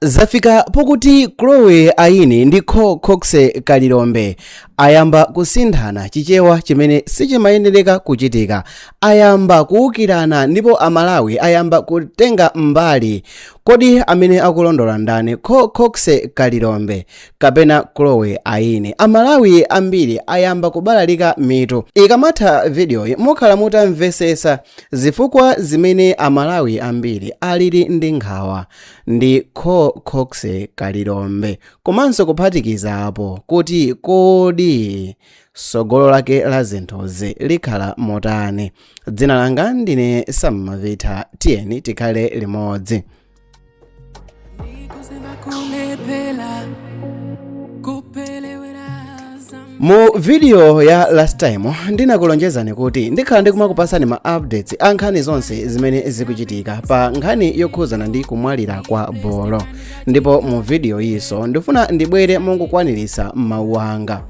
zafika pokuti chloe aine ndi co coxe kalilombe ayamba kusinthana chichewa chimene sichimayenereka kuchitika ayamba kuwukirana ndipo amalawi ayamba kutenga mbali kodi amene akulondola ndani co coxe kalilombe kapena chloe aine amalawi ambiri ayamba kubalalika mitu ikamatha vidiyoyi mukhala mutamvesesa zifukwa zimene amalawi ambiri alili ndi nkhawa ndi co coxe kalilombe komanso kuphatikizapo kuti kodi sogolo lake la zinthuzi likhala motani dzina langa ndine sam mavitha tiyeni tikhale limodzi mu video ya last time ndinakulonjezani kuti ndikhala ndikumakupasani ma updates a nkhani zonse zimene zikuchitika pa nkhani yokhuzana ndi kumwalira kwa bolo ndipo mu video yiso ndifuna ndibwere mongokwaniritsa mawu anga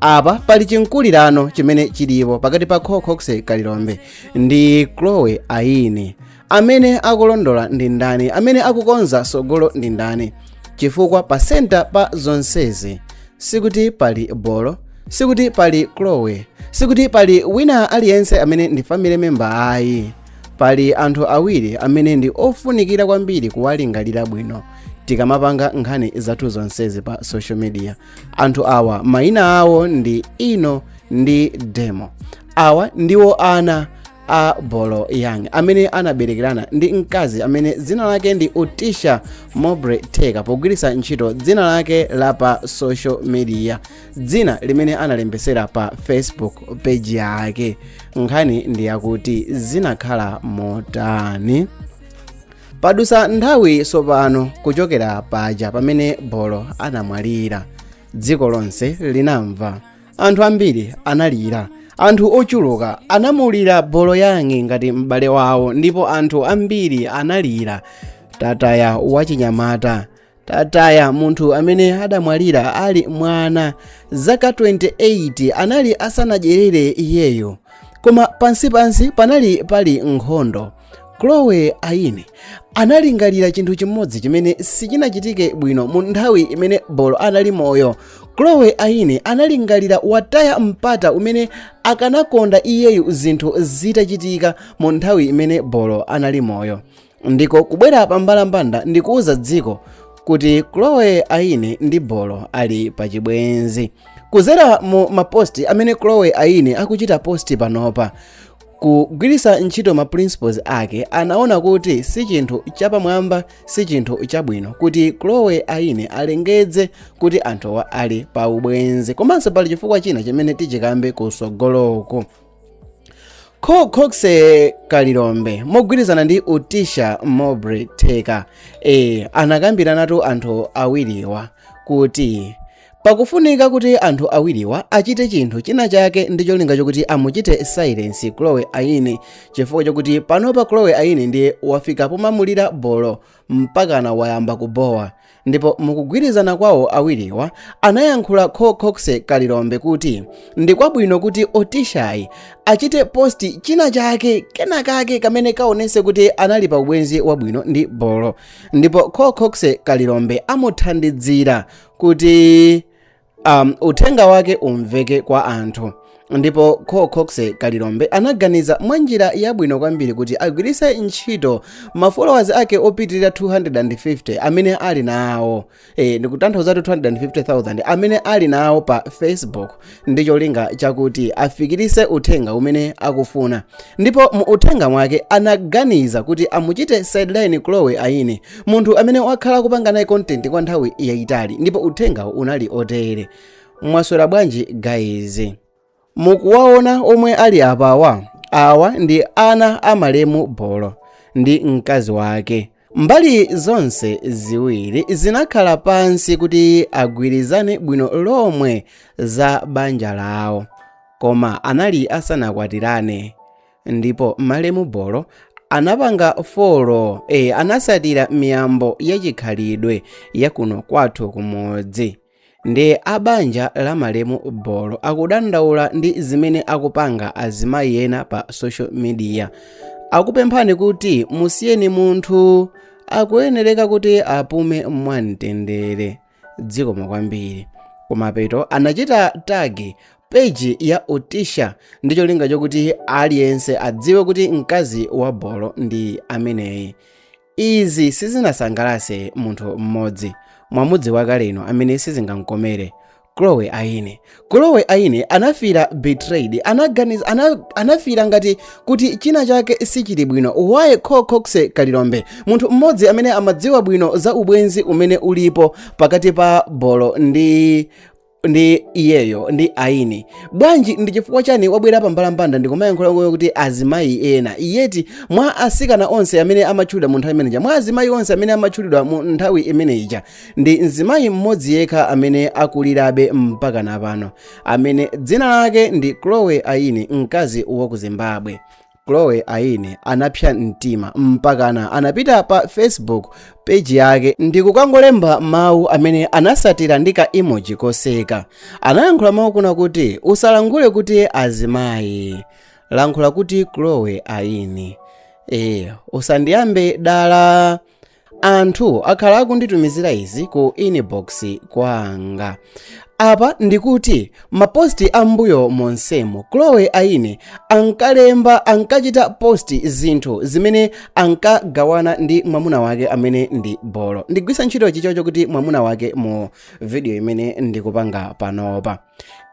apa pali chinkulirano chimene chilipo pakati pa cocox kalilombe ndi chloe aine amene akulondola ndi ndani amene akukonza sogolo ndi ndani chifukwa pa senta pa zonsezi sikuti pali bolo sikuti pali chloe sikuti pali wina aliyense amene ndi family member ayi pali anthu awiri amene ndi ofunikira kwambiri kuwalingalira bwino tikamapanga nkhani zathu zonsezi pa social media anthu awa mayina awo ndi ino ndi demo awa ndiwo ana a bolo young amene anaberekerana ndi mkazi amene dzina lake ndi utisha mobre teka pogwiritsa ntchito dzina lake la pa social media dzina limene analembesera pa facebook page yake nkhani ndi yakuti zinakhala motani padusa nthawi sopano kuchokera paja pamene bolo anamwalira dziko lonse linamva anthu ambiri analira anthu ochuluka anamulira bolo young ngati m'bale wawo ndipo anthu ambiri analira tataya wachinyamata tataya munthu amene adamwalira ali mwana zaka 28 anali asanadyerere iyeyo koma pansipansi panali pali nkhondo chloe aine analingalira chinthu chimodzi chimene sichinachitike bwino mu nthawi imene bolo anali moyo chloe aine analingalira wataya mpata umene akanakonda iyeyu zinthu zitachitika mu nthawi imene bolo anali moyo ndiko kubwera pa mbalambanda ndi kuuza dziko kuti chloe aine ndi bolo ali pa chibwenzi kuzera mu maposti amene chloe aine akuchita posti panopa kugwiritsa ntchito ma principles ake anaona kuti si chinthu chapamwamba si chinthu chabwino kuti chloe aine alengedze kuti anthuwa ali pa ubwenzi komanso pali chifukwa china chimene tichikambe kusogoloku Cocoxe kalilombe mogwirizana ndi utisha mobri theka e, anakambiranatu anthu awiriwa kuti pakufunika kuti anthu awiriwa achite chinthu china chake ndi cholinga chokuti amuchite silence chloe aine chifukwa chokuti panopa chloe aine ndiye wafika pomamulira bolo mpakana wayamba kubowa ndipo mukugwirizana kwawo awiriwa anayankhula cocoxe kalilombe kuti ndi kwabwino kuti otishayi achite post china chake kena kake kamene kaonese kuti anali pa ubwenzi wabwino ndi bolo ndipo cocoxe kalilombe amuthandidzira kuti um, uthenga wake umveke kwa anthu ndipo Cocoxe kalilombe anaganiza mwa njira yabwino kwambiri kuti agwiritse ntchito mafollowers ake opitirira 250 amene ali nawo e, ndikutanthauza 250,000 amene ali nawo pa facebook ndi cholinga chakuti afikirise uthenga umene akufuna ndipo mu uthenga mwake anaganiza kuti amuchite sideline chloe aine munthu amene wakhala kupanga naye content kwa nthawi yayitali ndipo uthenga unali otere mwaswera bwanji guys mukuwaona omwe ali apawa awa ndi ana a malemu bolo ndi mkazi wake mbali zonse ziwiri zinakhala pansi kuti agwirizane bwino lomwe za banja lawo koma anali asanakwatirane ndipo malemu bolo anapanga follow e, anasatira miyambo yachikhalidwe yakuno kwathu kumudzi Nde a banja la malemu Bolo akudandaula ndi zimene akupanga azimayi ena pa social media. Akupemphani kuti musiyeni munthu akuyenereka kuti apume mwamtendere. Dzikomo kwambiri. Kumapeto anachita tag page ya Utisha ndi cholinga chokuti aliyense adziwe kuti mkazi wa Bolo ndi ameneyi. izi sizinasangalase munthu mmodzi mwamudziwa kale inu amene sizingamkomere chloe aine chloe aine anafira betrayed anaganiz ana, anafira ngati kuti china chake sichili bwino why cocoxe kalilombe munthu mmodzi amene amadziwa bwino za ubwenzi umene ulipo pakati pa bolo ndi ndi iyeyo ndi aine bwanji ndi chifukwa chani wabwera pa mbalambanda ndikumayankhula ngoyo kuti azimayi ena iyeti mwa asikana onse amene amatchulidwa mu nthawi imeneja mwa azimayi onse amene amatchulidwa mu nthawi imeneja ndi mzimayi mmodzi yekha amene akulirabe mpaka napano amene dzina lake ndi chloe aine mkazi wa ku zimbabwe chloe aine anapsa mtima mpakana anapita pa facebook peji yake ndi kukangolemba mawu amene anasatira ndi ka emoji koseka anayankhula mawu kuna kuti usalankhule kuti azimayi lankhula kuti chloe aine ee usandiyambe dala anthu akhala akunditumizira izi ku inbox kwanga apa ndikuti maposti ambuyo monsemo chloe aine ankalemba ankachita posti zinthu zimene ankagawana ndi mwamuna wake amene ndi bolo ndigwisa ntchito choncho kuti mwamuna wake mu video imene ndikupanga panopa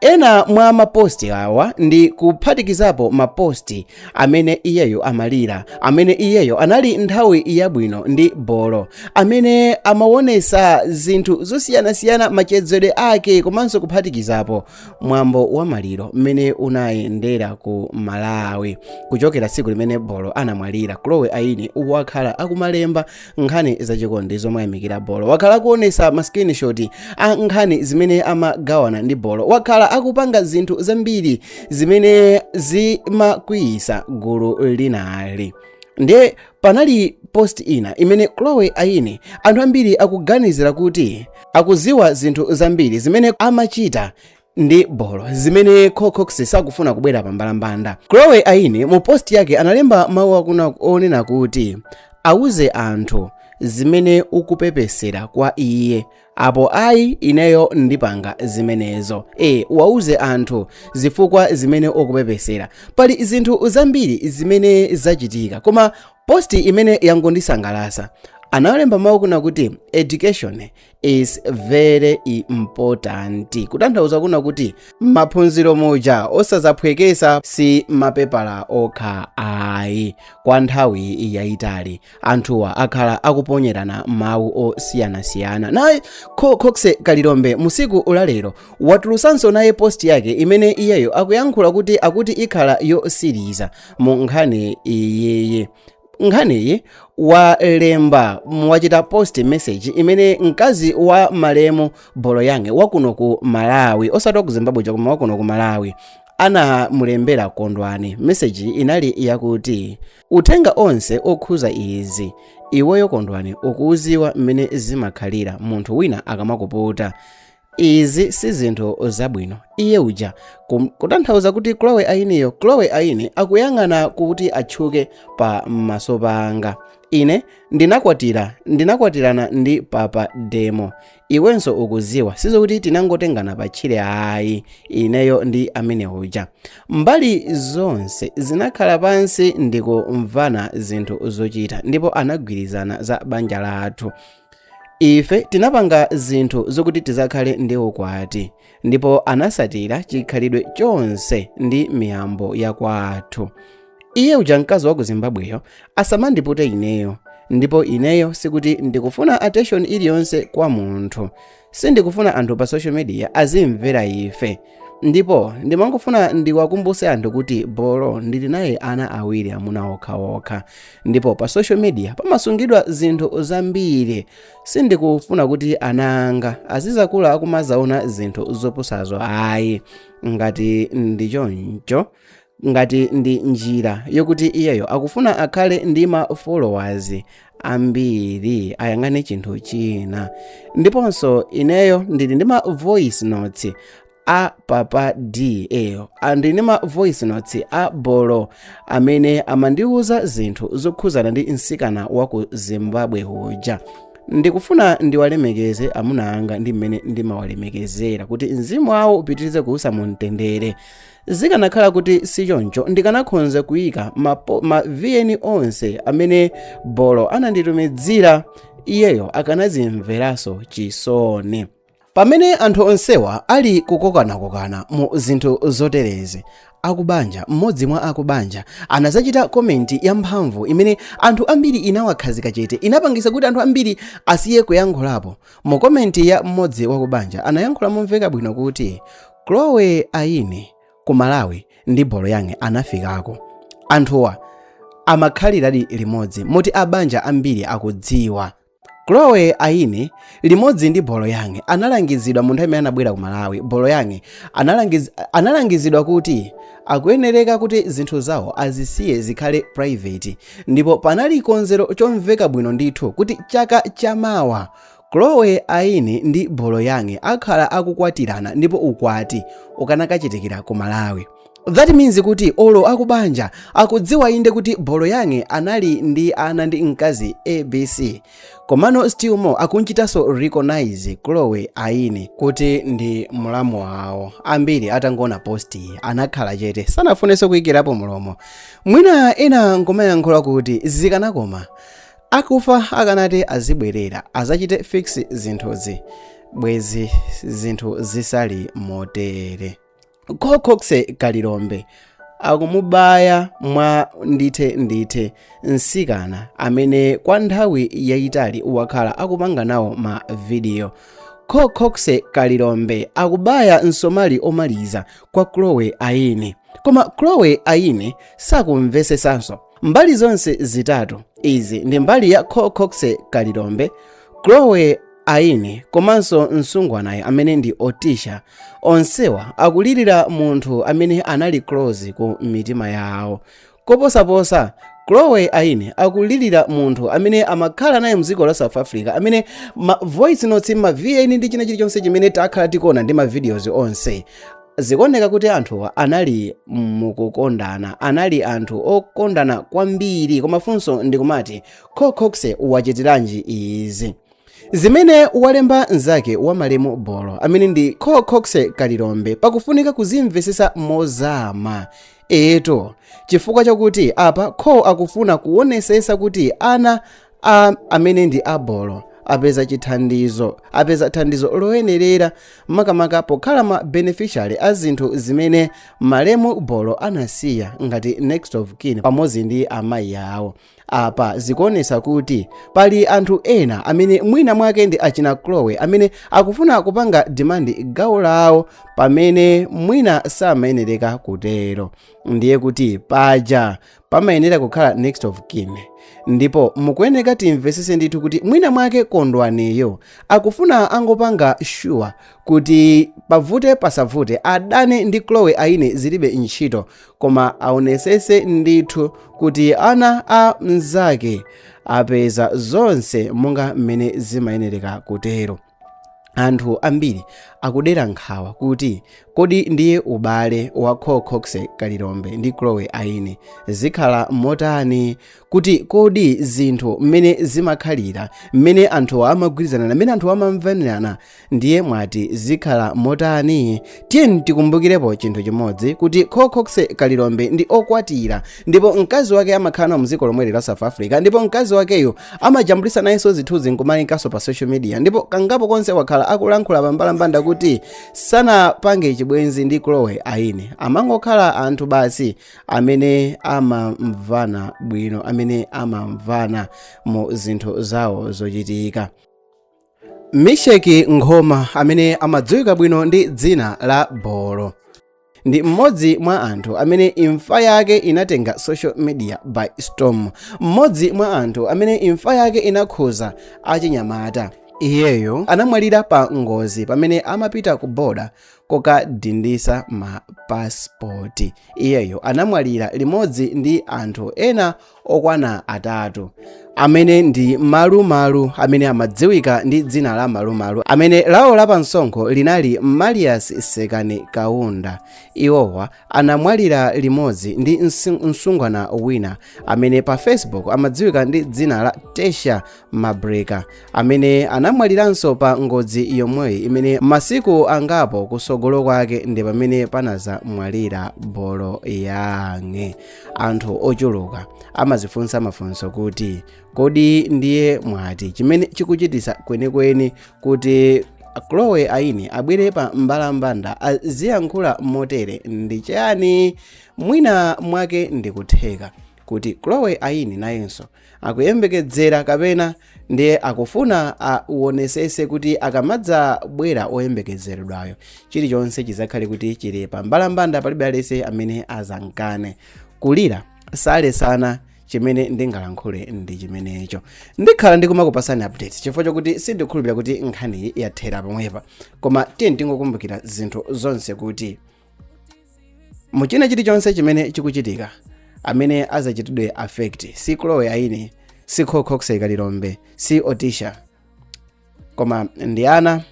Ena mwa maposti awa ndi kuphatikizapo maposti amene iyeyo amalira, amene iyeyo anali nthawi yabwino ndi bolo, amene amawonesa zinthu zosiyanasiyana machezedwe ake komanso kuphatikizapo mwambo wa maliro mmene unayendera ku Malawi kuchokera tsiku limene bolo anamwalira. Chloe Aine wakhala akumalemba nkhani zachikondi zomuyamikira bolo wakhala akuonesa ma screenshot a nkhani zimene amagawana ndi bolo wakhala akupanga zinthu zambiri zimene zimakwiyisa gulu linalo ndiye panali post ina imene chloe aine anthu ambiri akuganizira kuti akuziwa zinthu zambiri zimene amachita ndi bolo zimene Cox sakufuna kubwera pa mbalambanda. Chloe Aine mu post yake analemba mawu akuna onena kuti wauze anthu zimene ukupepesera kwa iye apo ayi ineyo ndipanga zimenezo e wauze anthu zifukwa zimene ukupepesera pali zinthu zambiri zimene zachitika koma posti imene yangondisangalasa analemba mawu kuna kuti education is very important kutanthauza kuna kuti maphunziro muja osazaphwekesa si mapepala okha ayi kwa nthawi yayitali anthuwa akhala akuponyerana mawu osiyanasiyana naye Cox kalilombe musiku ulalero watulusanso naye post yake imene iyeyo akuyankhula kuti akuti ikhala yotsiriza mu nkhani iyiyi nkhaniyi walemba wachita post message imene mkazi wa malemu bolo yang wakuno ku malawi osati waku zimbabwe koma wakuno ku malawi anamulembera kondwani meseji inali yakuti uthenga onse okhuza izi iweyo kondwani ukuuziwa mmene zimakhalira munthu wina akamakuputa Izi si zinthu zabwino. Iye uja, kutanthauza kuti Chloe ayiniyo, Chloe ayini akuyang'ana kuti atchuke pa maso pa anga. Ine ndinakwatira, ndinakwatirana ndi Papa Demo. Iwenso ukuziwa, sizokuti tinangotengana pa tchire ayi, ineyo ndi amene uja. Mbali zonse zinakhala pansi ndikumvana zinthu zochita ndipo anagwirizana za banja lathu. ife tinapanga zinthu zokuti tizakhale ndi ukwati ndipo anasatira chikhalidwe chonse ndi miyambo ya kwathu iye uja mkazi wa ku zimbabweyo asamandipute ineyo ndipo ineyo sikuti ndikufuna attention iliyonse kwa munthu sindikufuna anthu pa social media azimvera ife ndipo ndimangofuna ndiwakumbuse anthu kuti bolo ndili naye ana awiri amuna okhaokha ndipo pa social media pamasungidwa zinthu zambiri sindikufuna kuti ana anga azizakula akumazaona zinthu zopusazo ayi ngati ndi choncho ngati ndi njira yokuti iyeyo akufuna akhale ndi ma followers ambiri ayang'ane chinthu china ndiponso ineyo ndili ndi ma voice notes a papa d and ndili ndi ma voice notes a bolo amene amandiwuza zinthu zokhuzana ndi msikana wa ku zimbabwe uja ndikufuna ndiwalemekeze amuna anga ndi mmene ndimawalemekezera kuti mzimu wawo upitirize kuusa mu mtendere zikanakhala kuti sichoncho ndikanakhonza kuyika ma vn onse amene bolo ananditumizira iyeyo akanazimveranso chisoni pamene anthu onsewa ali kukokanakokana mu zinthu zoterezi akubanja mmodzi mwa akubanja anazachita komenti yamphamvu imene anthu ambiri inawakhazika chete inapangisa kuti anthu ambiri asiye kuyankhulapo mu komenti ya mmodzi wakubanja anayankhula momveka bwino kuti Chloe Ayini ku Malawi ndi Bolo Young anafikako. Anthuwa amakhaliradi limodzi moti a banja ambiri akudziwa. Chloe Ayini limodzi ndi Bolo Young analangizidwa mu nthawi imene anabwera ku Malawi. Bolo Young analangizidwa kuti akuyenereka kuti zinthu zawo azisiye zikhale private ndipo panali konzero chomveka bwino ndithu kuti chaka chamawa Chloe Aini ndi Bolo Young akhala akukwatirana ndipo ukwati ukanakachitikira ku Malawi. That means kuti olo akubanja akudziwa inde kuti Bolo Young anali ndi ana ndi mkazi ABC. Komano still more akunchitanso recognize Chloe Aini kuti ndi mulamu wawo. Ambiri atangoona post anakhala chete sanafunenso kuyikirapo mlomo. Mwina ena nkumayankhula kuti zikanakoma akufa akanati azibwerera azachite fix zinthuzi bwezi zinthu zisali motere kho chokxe kalilombe akumubaya mwa ndithe ndithe msikana amene kwa nthawi yayitali wakhala akupanga nawo ma vidiyo kho chokxe kalilombe akubaya msomali omaliza kwa chloe aine koma chloe aine sakumvesesanso mbali zonse zitatu izi ndi mbali ya kho chokxe kalilombe chloe aine komanso msungwanayo amene ndi otisha onsewa akulirira munthu amene anali close ku mitima yawo koposaposa chloe aine akulirira munthu amene amakhala naye mdziko la south africa amene ma voice notes ma vn ndi china chilichonse chimene takhala tikuona ndi ma videos onse zikuoneka kuti anthuwa anali mukukondana anali anthu okondana kwambiri koma funso ndikumati kho chokxe wachitiranji izi zimene walemba mnzake wa malemu bolo amene ndi kho chokxe kalilombe pakufunika kuzimvesesa mozama eto chifukwa chakuti apa kho akufuna kuonesesa kuti ana a amene ndi a bolo apeza chithandizo apeza thandizo loyenerera makamaka pokhala ma beneficiary a zinthu zimene malemu bolo anasiya ngati next of kin pamodzi ndi amayi awo apa zikuonesa kuti pali anthu ena amene mwina mwake ndi achina chloe amene akufuna kupanga demand gawo lawo pamene mwina samayenereka kutero ndiye kuti paja pamayenera kukhala next of kin ndipo mukuyeneka timvesese ndithu kuti mwina mwake kondwaniyo akufuna angopanga sure kuti pavute pasavute adane ndi chloe aine zilibe ntchito koma aonesese ndithu kuti ana a mnzake apeza zonse monga mmene zimayenereka kutero anthu ambiri akudera nkhawa kuti kodi ndiye ubale wa Kho Chokxe Kalilombe ndi Chloe Aine zikhala motani kuti kodi zinthu mmene zimakhalira mmene anthu amagwirizana mmene anthu amamvanirana ndiye mwati zikhala motani tiyeni tikumbukirepo chinthu chimodzi kuti Kho Chokxe Kalilombe ndi okwatira ndipo mkazi wake amakhala nawo mdziko lomweli la South Africa ndipo mkazi wakeyo Amajambulitsa nayenso zithunzi n'kumalinkanso pa social media ndipo kangapo konse wakhala akulankhula pambalambanda kuti sanapange chibwenzi ndi Chloe Aine. Amangokhala anthu basi amene amamvana bwino, amene amamvana mu zinthu zawo zochitika. misheki nkhoma amene amadziwika bwino ndi dzina la bolo ndi mmodzi mwa anthu amene imfa yake inatenga social media by storm mmodzi mwa anthu amene imfa yake inakhuza achinyamata iyeyo anamwalira pa ngozi pamene amapita ku boda kukadindisa mapasipoti iyeyo anamwalira limodzi ndi anthu ena okwana atatu amene ndi malumalu amene amadziwika ndi dzina la malumalu amene lawo la pansonkho linali marius sekani kaunda iwowa anamwalira limodzi ndi msungwana wina amene pa facebook amadziwika ndi dzina la tesha mabreka amene anamwaliranso pa ngozi yomweyi imene masiku angapo kusogolo kwake ndi pamene panazamwalira bolo yang'e anthu ochuluka amazifunsa mafunso kuti kodi ndiye mwati chimene chikuchitisa kwenikweni kuti chloe aini abwere pa mbalambanda aziyankhula motere ndi chani mwina mwake ndikutheka kuti chloe aini nayenso akuyembekedzera kapena ndiye akufuna awonesese kuti akamadzabwera oyembekezeredwayo chilichonse chizakhale kuti chili pa mbalambanda palibe alense amene azankane kulira salesana chimene ndingalankhule ndi chimenecho ndikhala ndikumakupasani update chifukwa chokuti sindikhulupira kuti nkhaniyi yathera pomwepa koma tiyeni tingokumbukira zinthu zonse kuti mu china chilichonse chimene chikuchitika amene azachitidwe affect si chloe aini si cocox kalilombe si otisha koma ndi ana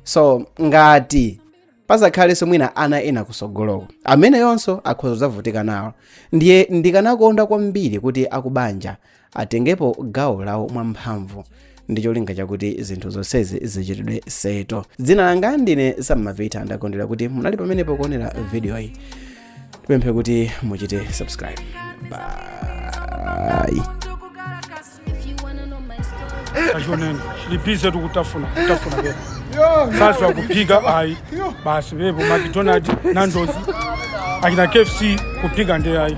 so ngati pazakhalenso mwina ana ena kusogoloko amenewonso akhoza zavutika nawo ndiye ndikanakonda kwambiri kuti akubanja atengepo gawo lawo mwamphamvu ndi cholinga chakuti zinthu zonsezi zichitidwe settle dzina langa ndine sammavita ndakondwera kuti munali pamenepo kuonera vidiyoyi tipemphe kuti muchite subscribe bye If you wanna know my story. kachonene lipize tikutafuna kutafuna pepo sasa kuphika ayi basi pepo macdonald nandozi achina kfc kuphika nde ayi